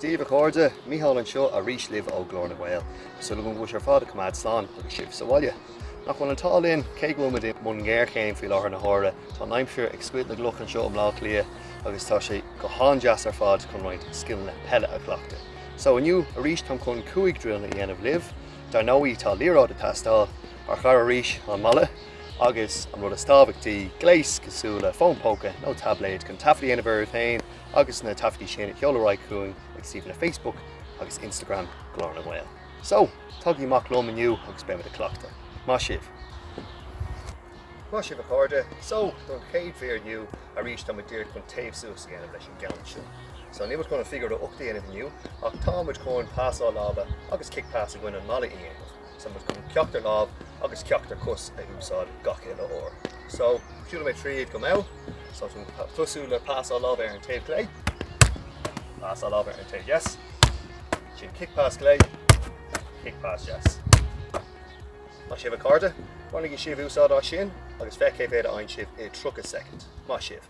Daoibh a chairde, Mícheál anseo arís libh ó Glór na nGael. Súil agam go bhfuil sibh ar fad ag coimeád slán agus sibh sa bhaile. Nach bhfuil an t-ádh linn, cé go bhfuil muid i mbun géarchéim faoi láthair na huaire, tá an aimsir ag scoilteadh na gcloch anseo i mBleá Cliath agus tá sé go han-deas ar fad chun roinnt scileanna peile a chleachtadh. So, inniu arís táim chun cúig drilleanna a dhéanamh libh. Dar ndóigh, tá liathróid ag teastáil. Marcóirí arís an balla agus an rud is tábhachtaí, gléas cosúil le fón póca nó taibléad chun taifead a dhéanamh oraibh féin agus na taifeadtaí sin a sheoladh ar aghaidh chugainn ag suíomhanna Facebook agus Instagram Ghlór na nGael. So, tagaigí amach liom inniu agus beimid ag cleachtadh. Maith sibh! Maith sibh a chairde, so don chéad mhír inniu arís táimid díreach chun téamh suas a dhéanamh leis an gceann seo. So níl muid chun an figure 8 a dhéanamh inniu ach táimid chun passáil láimhe agus kick pass against an mballa a dhéanamh. So táimid chun ceachtar lámh agus ceachtar cos a úsáid gach uile uair. So, siúlfaidh mé tríd go mall. So, ag tosú le pasáil láimhe ar an taobh clé. Pasáil láimhe ar an taobh dheas. Ansin kick pas clé, kick pas dheas. Maith sibh a chairde, bainigí sibh úsáid as sin agus feicfidh cé mhéad a fhaigheann sibh i 30 soicind. Maith sibh!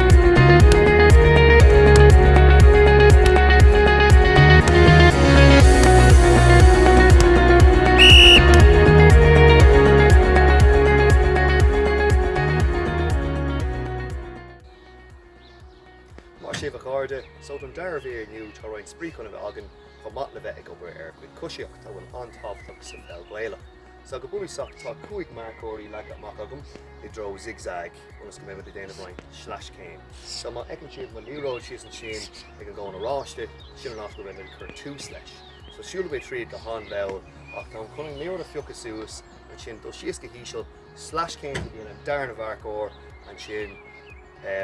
Maith sibh a chairde, so don dara mír inniu tá roinnt spraoi chun a bheith againn chomh maith le bheith ag obair ar ár gcuid coisíochta a bhfuil an-tábhachtach sa pheil Ghaelach. So go bunúsach tá cúig marcóirí leagtha amach agam i dtreo zig-zag. ionas go mbeidh muid ag déanamh uainn sleais céim. So má fheiceann sibh mo liathróid síos ansin ag an gcón oráiste, sin an áit go mbeidh mé ag cur tús leis. So siúlfaidh mé tríd go han-mhall, ach táim chun liathróid a phiocadh suas ansin, dul síos go híseal, sleais céim go dtí an darna mharcóir, ansin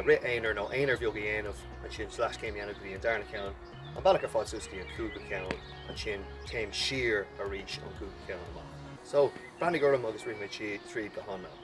rith aonair nó aonair bheag a dhéanamh, ansin sleais céim a dhéanamh go dtí an darna ceann, an bealach ar fad suas go dtí an cúigiú ceann, ansin téim siar arís ón gcúigiú ceann amach. So breathnaigh orm agus rithfidh mé tríd go han-mhall.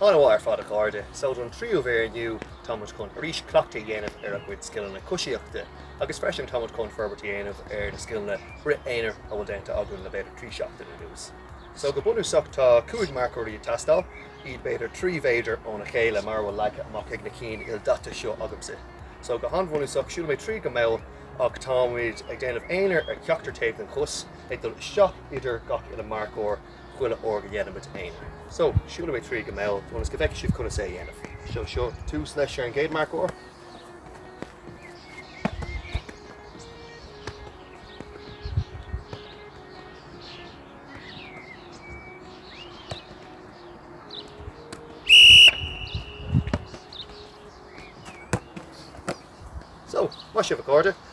An-mhaith ar fad a chairde. So don tríú mhír inniu, táimid chun arís cleachtadh a dhéanamh ar ár gcuid scileanna coisíochta agus freisin táimid chun forbairt a dhéanamh ar na scileanna rith aonair a bhfuil déanta againn le b'fhéidir trí seachtaine anuas. So go bunúsach tá cúig marcóirí ag teastáil, iad b'fhéidir trí mhéadar óna chéile mar a bhfuil leagtha amach ag na cinn ildaite seo agamsa. So go han-bhunúsach, siúlfaidh mé tríd go mall ach táimid ag déanamh aonair ar cheachtar taobh den chos, ag dul isteach idir gach uile marcóir chuile uair go ndéanaimid aonair. So, siúlfaidh mé tríd go mall ionas go bhfeicfidh sibh conas é a dhéanamh. So, seo tús leis ag an gcéad marcóir. So, maith sibh a chairde,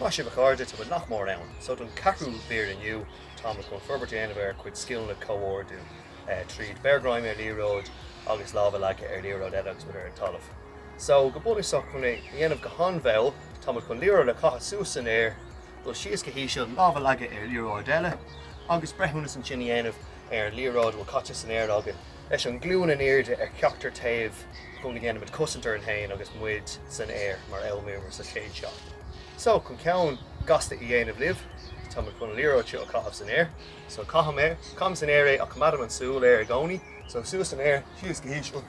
Maith sibh a chairde, tá muid nach mór ann. So don ceathrú mhír inniu tá muid chun forbairt a dhéanamh ar ár gcuid scileanna comhordú tríd beir greim ar liathróid agus lámh a leagadh ar liathróid eile agus muid ar an talamh. So go bunúsach chun é a dhéanamh go han-mhall tá muid chun liathróid a chaitheamh suas san aer, dul síos go híseal, lámh a leagadh ar liathróid eile agus breithiúnas ansin a dhéanamh ar an liathróid a bhfuil caite san aer againn. leis an nglúin in airde ar cheachtar taobh chun go ndéanfaimid cosaint orainn féin agus muid san aer mar a d'fhoghlaimíomar sa chéad seachtain. So, chun ceann gasta a dhéanamh libh, táimid chun an liathróid seo a chaitheamh san aer. So, caithim san aer é ach coimeádaim an súil air i gcónaí. So, suas san aer, síos go híseal,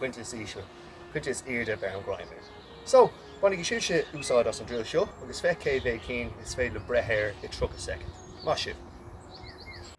pointe is ísle, pointe is airde, beirim greim air. So, bainigí sibhse úsáid as an drill seo agus féach cé mhéad cinn is féidir libh breith air i 30 soicind. Maith sibh!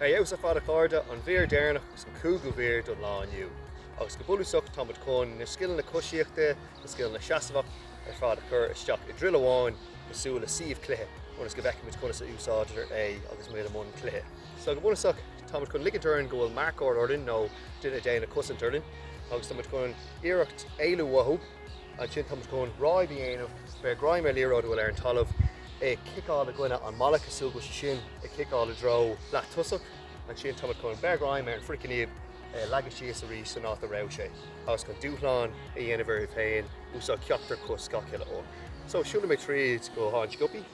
Ar fheabhas ar fad a chairde, an mhír deireanach agus an cúigiú mhír don lá inniu. Agus go bunúsach tá muid chun na scileanna coisíochta, na scileanna seasmhachta ar fad a chur isteach i druil amháin cosúil le suíomh cluiche ionas go bhfeicfidh muid conas a úsáidtear é agus muid i mbun cluiche. So go bunúsach tá muid chun ligint orainn go bhfuil marcóir orainn nó duine ag déanamh cosaint orainn agus tá muid chun iarracht éalú uathu, ansin tá muid chun ráib a dhéanamh, beir greim ar liathróid a bhfuil ar an talamh, é a chiceáil i gcoinne an mballa cosúil go bhfuil sé sin ag ciceáil i dtreo leath tosach, ansin tá muid chun beir greim ar an fricciníob, é a leagadh síos arís san áit a raibh sé agus chun dúshlán a dhéanamh oraibh féin úsáid ceachtar cos gach uile uair. So siúlfaidh mé tríd go han-sciobtha.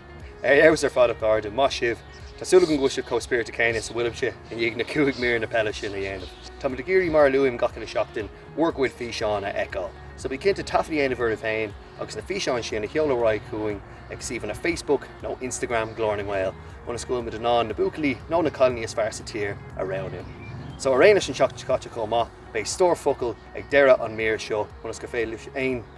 Ar fheabhas ar fad a chairde, maith sibh. Tá súil agam go bhfuil sibh chomh spíonta céanna is a bhfuilimse i ndiaidh na cúig míreanna peile sin a dhéanamh. Táimid ag iarraidh, mar a luaim gach uile sheachtain, bhur gcuid físeán a fheiceáil. So bí cinnte taifead a dhéanamh oraibh féin agus na físeáin sin a sheoladh ar aghaidh chugainn ag suíomhanna Facebook nó Instagram Ghlór na nGael ionas go bhfuil muid in ann na buachaillí nó na cailíní is fearr sa tír a roghnú. So ar aon leis an tseachtain seo caite chomh maith, beidh stór focal ag deireadh an mír seo ionas gur féidir libhse aon